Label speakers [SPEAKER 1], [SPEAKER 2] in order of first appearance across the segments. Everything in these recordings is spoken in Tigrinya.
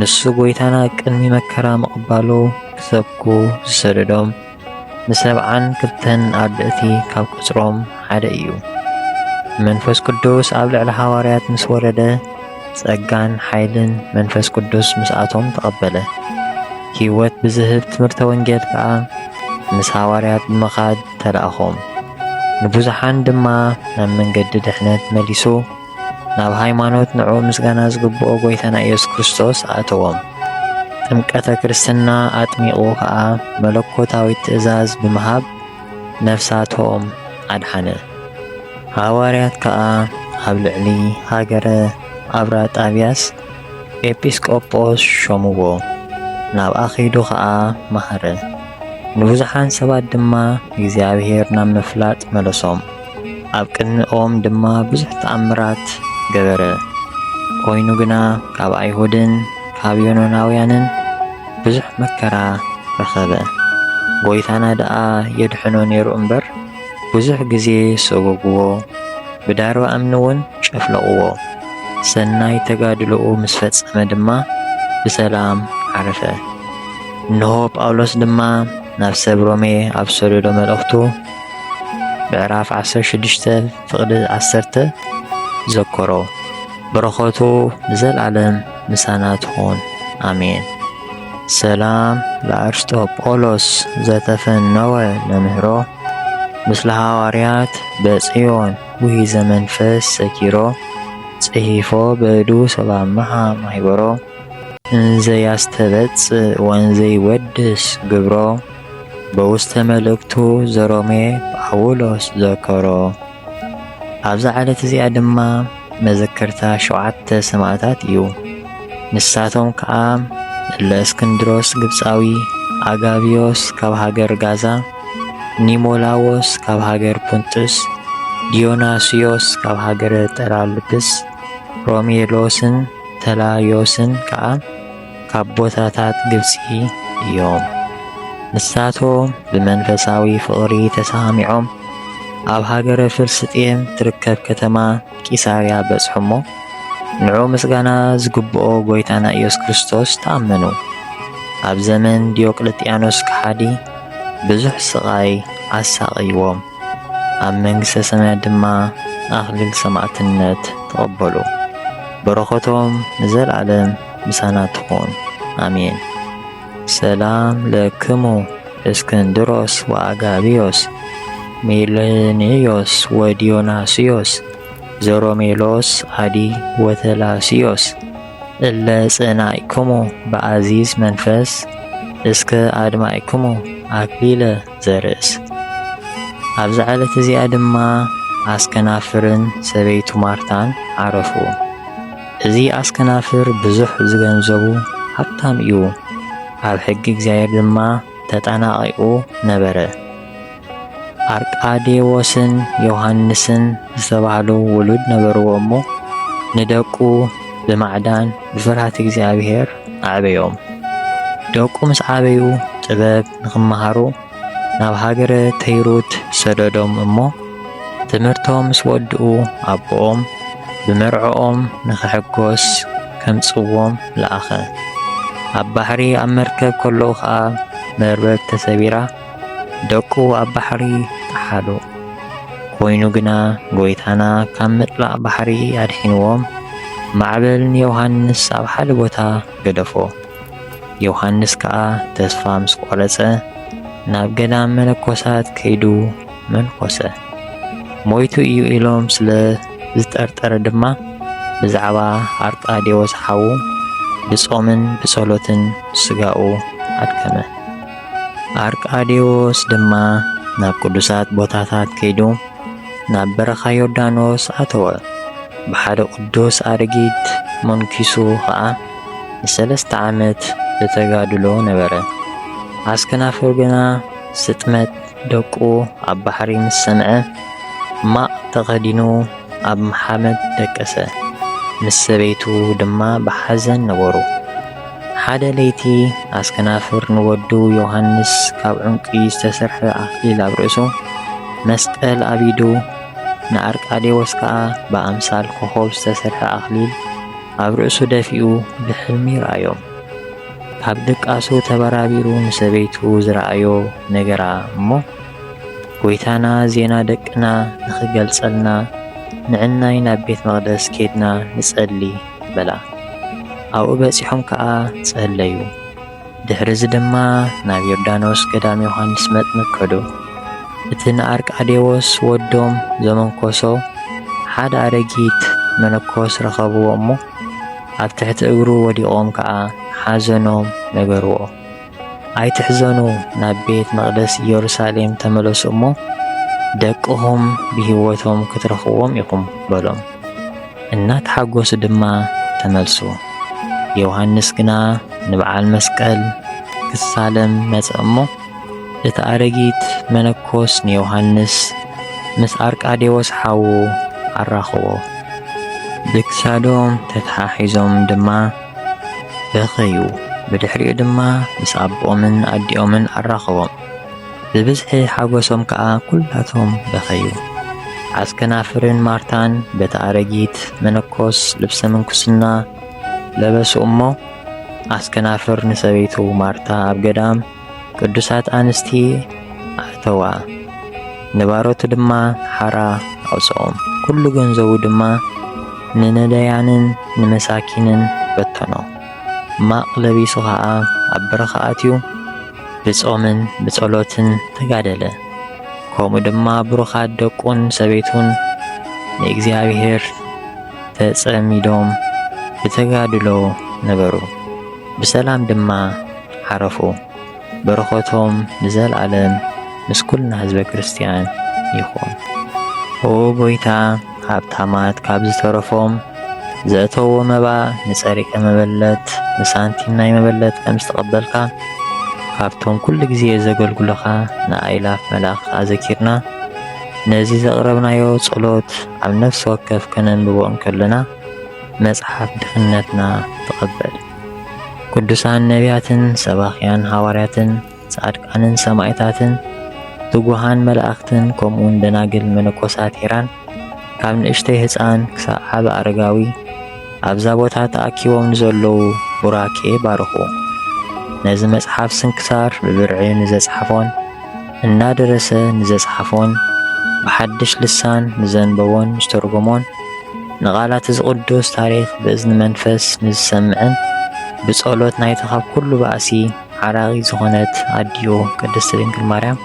[SPEAKER 1] ንሱ ጎይታና ቅድሚ መከራ ምቕባሉ ክሰብኩ ዝሰደዶም ንሰብዓን ክልተን ኣርድእቲ ካብ ቁጽሮም ሓደ እዩ። መንፈስ ቅዱስ ኣብ ልዕሊ ሃዋርያት ምስ ወረደ ጸጋን ሓይልን መንፈስ ቅዱስ ምስኣቶም ተቐበለ። ሕይወት ብዝህብ ትምህርተ ወንጌል ከዓ ምስ ሃዋርያት ብምኻድ ተላእኾም። ንብዙሓን ድማ ናብ መንገዲ ድሕነት መሊሱ። ናብ ሃይማኖት ንዑ ምስጋና ዝግብኦ ጎይታና ኢየሱስ ክርስቶስ ኣእተዎም። ጥምቀተ ክርስትና ኣጥሚቑ ኸኣ መለኮታዊ ትእዛዝ ብምሃብ ነፍሳቶም ኣድሓነ። ሃዋርያት ከኣ ኣብ ልዕሊ ሃገረ ኣብራጣብያስ ኤጲስቆጶስ ሾምዎ፣ ናብኣ ኺዱ ኸኣ መሃረ። ንብዙሓን ሰባት ድማ እግዚኣብሔር ናብ ምፍላጥ መለሶም። ኣብ ቅድሚኦም ድማ ብዙሕ ተኣምራት ገበረ። ኮይኑ ግና ካብ ኣይሁድን ካብ ዮኖናውያንን ብዙሕ መከራ ረኸበ። ጎይታና ደኣ የድሕኖ ነይሩ እምበር ብዙሕ ግዜ ሰጎግዎ፣ ብዳርባ እምኒ እውን ጨፍለቕዎ። ሰናይ ተጋድሎኡ ምስ ፈጸመ ድማ ብሰላም ዓረፈ። እንሆ ጳውሎስ ድማ ናብ ሰብ ሮሜ ኣብ ሰደዶ መልእኽቱ ምዕራፍ ዓሰርተ ሽዱሽተ ፍቕዲ ዓሰርተ ዘከሮ በረኸቱ ንዘለዓለም ምሳና ትኹን ኣሜን። ሰላም ለአርስጦጶሎስ ዘተፈነወ ለምህሮ ምስለ ሃዋርያት በጽዮን ውሂ ዘመንፈስ ሰኪሮ ጽሒፎ በዱ ሰባምሃ ማይበሮ እንዘ ያስተበጽእ ወንዘይ ወድስ ግብሮ በውስተ መልእክቱ ዘሮሜ ጳውሎስ ዘከሮ። ኣብዛ ዕለት እዚኣ ድማ መዘከርታ ሸውዓተ ሰማእታት እዩ። ንሳቶም ከዓ እለ እስክንድሮስ ግብፃዊ፣ ኣጋብዮስ ካብ ሃገር ጋዛ፣ ኒሞላዎስ ካብ ሃገር ፑንጥስ፣ ዲዮናስዮስ ካብ ሃገረ ጠራልብስ፣ ሮሜሎስን ተላዮስን ከዓ ካብ ቦታታት ግብጺ እዮም። ንሳቶም ብመንፈሳዊ ፍቕሪ ተሰማሚዖም ኣብ ሃገረ ፍልስጤም ትርከብ ከተማ ቂሳርያ በጽሑ እሞ ንዑ ምስጋና ዝግብኦ ጐይታና ኢየሱስ ክርስቶስ ተኣመኑ። ኣብ ዘመን ዲዮቅልጥያኖስ ከሓዲ ብዙሕ ስቓይ ኣሳቐይዎም። ኣብ መንግሥተ ሰማያት ድማ ኣኽሊል ሰማዕትነት ተቐበሉ። በረኸቶም ንዘለዓለም ምሳና ትኹን፣ ኣሜን። ሰላም ለክሙ እስክንድሮስ ወአጋቢዮስ ሜልንዮስ ወዲዮናስዮስ ዘሮሜሎስ አዲ ወተላስዮስ እለ ጸናዕክሙ በአዚዝ መንፈስ እስከ አድማዕክሙ አክሊለ ዘርእስ። ኣብዛ ዕለት እዚኣ ድማ ኣስከናፍርን ሰበይቱ ማርታን ዓረፉ። እዚ ኣስከናፍር ብዙሕ ዝገንዘቡ ሃብታም እዩ፣ ኣብ ሕጊ እግዚኣብሔር ድማ ተጠናቒቑ ነበረ። ኣርቃዴዎስን ዮሐንስን ዝተባህሉ ውሉድ ነበርዎ እሞ ንደቁ ብማዕዳን ብፍርሃት እግዚኣብሔር ኣዕበዮም። ደቁ ምስ ዓበዩ ጥበብ ንኽመሃሩ ናብ ሃገረ ተይሩት ሰደዶም እሞ ትምህርቶም ምስ ወድኡ ኣቦኦም ብመርዕኦም ንኽሕጎስ ከምጽዎም ለኣኸ። ኣብ ባሕሪ ኣብ መርከብ ከለዉ ኸኣ መርበብ ተሰቢራ ደቁ ኣብ ባሕሪ ጠሓሉ። ኮይኑ ግና ጐይታና ካብ ምጥላቕ ባሕሪ ኣድሒንዎም ማዕበል ንዮሃንስ ኣብ ሓደ ቦታ ገደፎ። ዮሃንስ ከኣ ተስፋ ምስ ቆረጸ ናብ ገዳም መነኮሳት ከይዱ መንኮሰ። ሞይቱ እዩ ኢሎም ስለ ዝጠርጠረ ድማ ብዛዕባ ኣርጣዴዎስ ሓዉ ብጾምን ብጸሎትን ስጋኡ ኣድከመ። ኣርቃዴዎስ ድማ ናብ ቅዱሳት ቦታታት ከይዱ ናብ በረኻ ዮርዳኖስ ኣተወ። ብሓደ ቅዱስ ኣረጊት መንኪሱ ኸኣ ንሰለስተ ዓመት ብተጋድሎ ነበረ። ኣስከናፍር ግና ስጥመት ደቁ ኣብ ባሕሪ ምስ ሰምዐ፣ ማቕ ተኸዲኑ ኣብ መሓመድ ደቀሰ። ምስ ሰበይቱ ድማ ብሓዘን ነበሩ። ሓደ ለይቲ ኣስከናፍር ንወዱ ዮሃንስ ካብ ዑንቂ ዝተሰርሐ ኣኽሊል ኣብ ርእሱ፣ መስቀል ኣብ ኢዱ፣ ንኣርቃዴዎስ ከኣ ብኣምሳል ኮኾብ ዝተሰርሐ ኣኽሊል፣ ኣብ ርእሱ ደፊኡ ብሕልሚ ይርኣዮም። ካብ ድቃሱ ተበራቢሩ ንሰበይቱ ዝረኣዮ ነገራ እሞ ጎይታና ዜና ደቅና ንኽገልጸልና ንዕናይ ናብ ቤት መቕደስ ኬድና ንጸሊ በላ። ኣብኡ በጺሖም ከኣ ጸለዩ። ድሕርዚ ድማ ናብ ዮርዳኖስ ገዳም ዮሓንስ መጥምቅ ከዱ። እቲ ንኣርቃዴዎስ ወዶም ዘመንኮሶ ሓደ ኣረጊት መነኮስ ረኸብዎ እሞ ኣብ ትሕቲ እግሩ ወዲቖም ከኣ ሓዘኖም ነገርዎ። ኣይትሕዘኑ ናብ ቤት መቕደስ ኢየሩሳሌም ተመለሱ እሞ ደቅኹም ብህይወቶም ክትረኽዎም ኢኹም በሎም። እናተሓጎሱ ድማ ተመልሱ። ዮሃንስ ግና ንበዓል መስቀል ክሳለም መጸ እሞ እቲ ኣረጊት መነኮስ ንዮሃንስ ምስ ኣርቃዴዎስ ሓዉ ኣራኸቦ። ብክሳዶም ተተሓሒዞም ድማ በኸዩ። ብድሕሪኡ ድማ ምስ ኣቦኦምን ኣዲኦምን ኣራኸቦም። ብብዝሒ ሓጎሶም ከኣ ኩላቶም በኸዩ። ዓስከናፍርን ማርታን በቲ ኣረጊት መነኮስ ልብሰ ምንኩስና ለበሱ እሞ፣ ዓስከናፍር ንሰበይቱ ማርታ ኣብ ገዳም ቅዱሳት ኣንስቲ ኣእተዋ። ንባሮቱ ድማ ሓራ ኣውጽኦም። ኩሉ ገንዘቡ ድማ ንነዳያንን ንመሳኪንን በተኖ። ማቕ ለቢሱ ኸኣ ኣብ በረኻ ኣትዩ ብጾምን ብጸሎትን ተጋደለ። ከምኡ ድማ ብሩኻት ደቁን ሰበይቱን ንእግዚኣብሔር ተጸሚዶም ብተጋድሎ ነበሩ፣ ብሰላም ድማ ዓረፉ። በረኸቶም ንዘለዓለም ምስ ኩልና ህዝበ ክርስቲያን ይኹን። ኦ ጎይታ ሃብታማት ካብ ዝተረፎም ዘእተዎ መባ ንጸሪቀ መበለት ንሳንቲም ናይ መበለት ከም ዝተቐበልካ ካብቶም ኩሉ ግዜ ዘገልግሉኻ ንኣእላፍ መላእኽቲ ኣዘኪርና ነዚ ዘቕረብናዮ ጸሎት ኣብ ነፍሲ ወከፍ ከነንብቦ እንከለና መጽሓፍ ድኽነትና ተቐበል። ቅዱሳን ነቢያትን ሰባኽያን ሃዋርያትን ጻድቃንን ሰማእታትን ትጉሃን መላእኽትን ከምኡውን ደናግል መነኮሳት ኢራን ካብ ንእሽተይ ህፃን ክሳብ ዓቢ ኣረጋዊ ኣብዛ ቦታ ተኣኪቦም ንዘለዉ ቡራኬ ባርኹ። ነዚ መጽሓፍ ስንክሳር ብብርዒ ንዘጽሓፎን እናደረሰ ንዘጽሓፎን ብሓድሽ ልሳን ንዘንበቦን ዝተርጎሞን ንቓላት እዚ ቅዱስ ታሪኽ ብእዝኒ መንፈስ ንዝሰምዕን ብጸሎት ናይቲ ካብ ኩሉ ባእሲ ዓራቒት ዝኾነት ኣዲኡ ቅድስት ድንግል ማርያም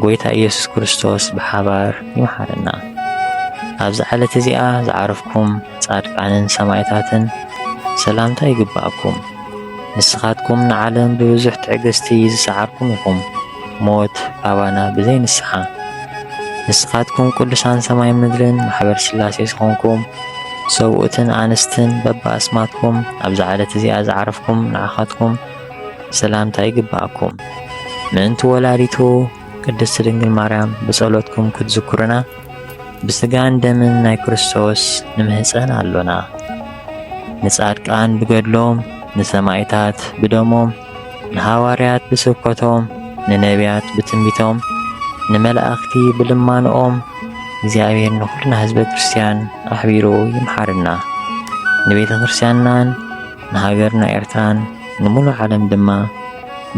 [SPEAKER 1] ጎይታ ኢየሱስ ክርስቶስ ብሓባር ይምሓረና። ኣብዚ ዓለት እዚኣ ዝዓረፍኩም ጻድቃንን ሰማይታትን ሰላምታ ይግባኣኩም። ንስኻትኩም ንዓለም ብብዙሕ ትዕግስቲ ዝሰዓርኩም ኢኹም። ሞት ኣባና ብዘይ ንስሓ። ንስኻትኩም ቅዱሳን ሰማይ ምድርን ማሕበር ስላሴ ዝኾንኩም ሰብኡትን ኣንስትን በብኣስማትኩም ኣብዛ ዓለት እዚኣ ዝዓረፍኩም ንዓኻትኩም ሰላምታ ይግብኣኩም። ምእንቲ ወላዲቱ ቅድስት ድንግል ማርያም ብጸሎትኩም ክትዝክሩና ብስጋን ደምን ናይ ክርስቶስ ንምህፀን ኣሎና። ንጻድቃን ብገድሎም ንሰማይታት ብደሞም ንሃዋርያት ብስብከቶም፣ ንነብያት ብትንቢቶም፣ ንመላእኽቲ ብልማንኦም እግዚኣብሔር ንኹልና ህዝበ ክርስቲያን ኣሕቢሩ ይምሓርና። ንቤተ ክርስቲያንናን ንሃገርና ኤርትራን ንምሉእ ዓለም ድማ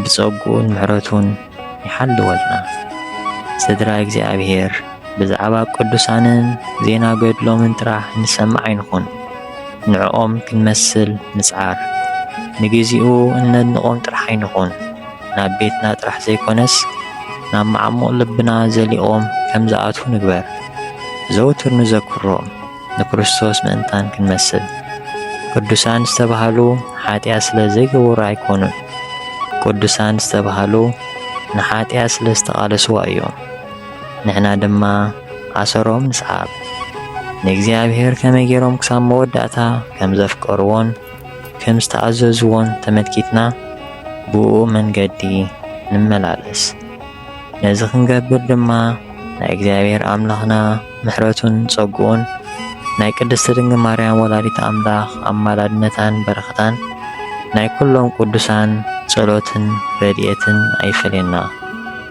[SPEAKER 1] ብጸግኡን ምሕረቱን ይሓልወልና። ስድራ እግዚኣብሔር ብዛዕባ ቅዱሳንን ዜና ገድሎምን ጥራሕ ንሰምዕ ኣይንኹን። ንዕኦም ክንመስል ንጽዓር። ንግዚኡ እነድንቖም ጥራሕ ኣይንኹን፣ ናብ ቤትና ጥራሕ ዘይኮነስ ናብ መዓሙቕ ልብና ዘሊቖም ከም ዝኣትዉ ንግበር። ዘውትር ንዘክሮም፣ ንክርስቶስ ምእንታን ክንመስል። ቅዱሳን ዝተባህሉ ሓጢኣት ስለ ዘይገበሩ ኣይኮኑን፣ ቅዱሳን ዝተባህሉ ንሓጢኣት ስለ ዝተቓለስዋ እዮም። ንሕና ድማ ኣሰሮም ንስዓብ። ንእግዚኣብሄር ከመይ ገይሮም ክሳብ መወዳእታ ከም ዘፍቀርዎን ከም ዝተኣዘዝዎን ተመልኪትና ብእኡ መንገዲ ንመላለስ። ነዚ ክንገብር ድማ ናይ እግዚኣብሄር ኣምላኽና ምሕረቱን ጸግኡን ናይ ቅድስቲ ድንግል ማርያም ወላዲት ኣምላኽ ኣማላድነታን በረኸታን ናይ ኩሎም ቅዱሳን ጸሎትን ረድኤትን ኣይፈለየና።